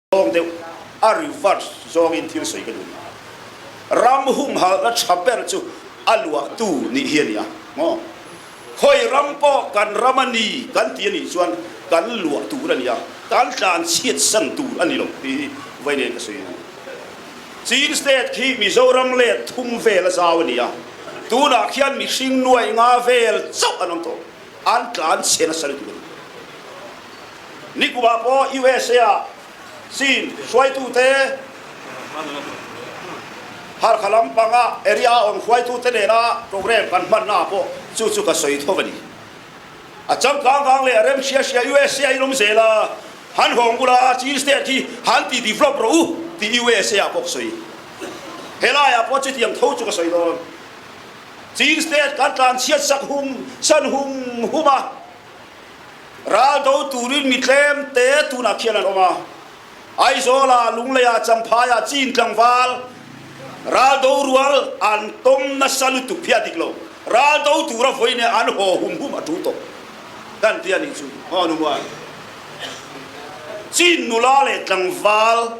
Lawng deuh a reverse zong in thil soi ka duh. Ram humhal na thaper cu a luahtu nih hian ya. Ngo. Khoi ram po kan ram ani kan ti ani chuan kan luah tur ani a kan tlan chiat san tur ani lo ti vai ne ka suin Chin state khi Mizoram le thum vel a zau ani a tunah khian mihring nuai nga vel chauh an om to an tlan chen a sal tur Nikhua paw USA ah sin hruaitu te harkhalam pangah area on hruaitu te nena program kan hman na po chu chu ka soi tho bani a cham kang kang le rem sia sia USA ilum zela han hong gula chin state hi han ti develop ro ti USA a pok soi helai a po chi tiang tho chu ka soi don chin state kan tlan chiat sak hung san hung huma Raldotu rin mi tlemte tunah khian an um a. Aizawl ah Lunglei ah Champhai ah Cin tlangval raldo rual an tom nasa lutuk phia dik lo raldo tu ra voi ne an ho hum hum a tu to kan tia ni chu ho nu wa chin nula le tlangval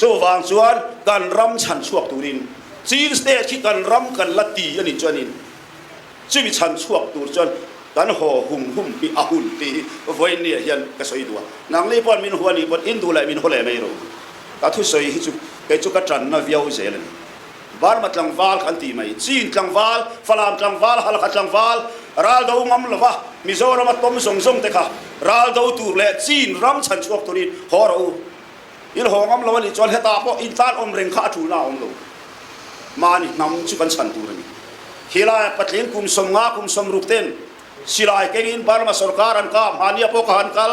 Cuvang chuan kan ram chanchuak turin Chin state khi kan ram kan la ti ani chuanin chibi chanchuak tur chuan kan ho hum hum pi a hun pi voi ni hian ka soi dua nang li pon min huan i pon in du lai min hole mai ro ka thu soi hi chu kei chu ka tran na viau zel ani Burma tlangval kan ti mai Chin tlangval Falam tlangval Halakha tlangval raldo ngam lova Mizoram a tom zong zong te kha raldo tur le Chin ram chan chuak turin horo il ho ngam lo ni chol heta po in tan om reng kha thu la om lo mani nam chu kan chan tur ni hilai patlin kum som nga kum som ruk ten silai kengin Burma sarkar an ka mania po ka han kal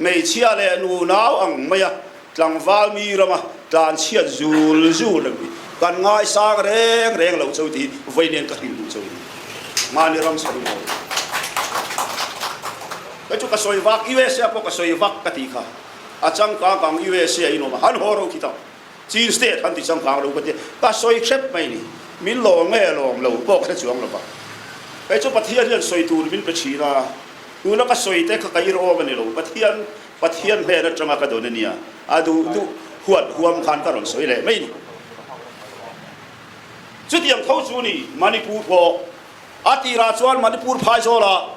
Meichia le an unau ang mai a tlangvalmi ram a tlanchiat zul zul an kan ngaisang reng reng lo cho ti voi len ka hring cho ma ni ram soi lo ka chu ka soi vak USA po ka soi vak ka ti kha a chang ka kang USA in om han horo thi ta Tuesday than ti sang kang lo ka ti ta soi hrep mai ni min lo nge lom lo bok se chuang lo ba kai chu pathian hian soi tur min pe chi la tu la ka soi te ka kai ro mani lo pathian pathian he na tanga ka don nia adu du huat huam khan ka ron soi le mai ni chutiang tho chu ni manipur pho atira chuan manipur phai zola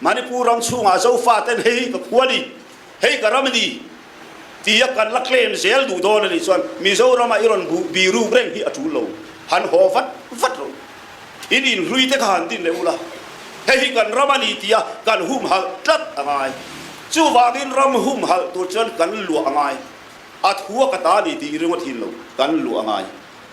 Manipur ram chungah zofaten hei ka khuali hei ka ramni tiak kan laklen zel duh dawn ani chuan Mizoram ah iron biru reng hi a tul lo han ho vat vat ru in in hlui te khan din le ula hei hi kan ram ani tia kan hum hal tlat angai chuwagin ram hum hal tur chuan kan lu angai a thua ka ta ni ti ringawt hin lo kan lu angai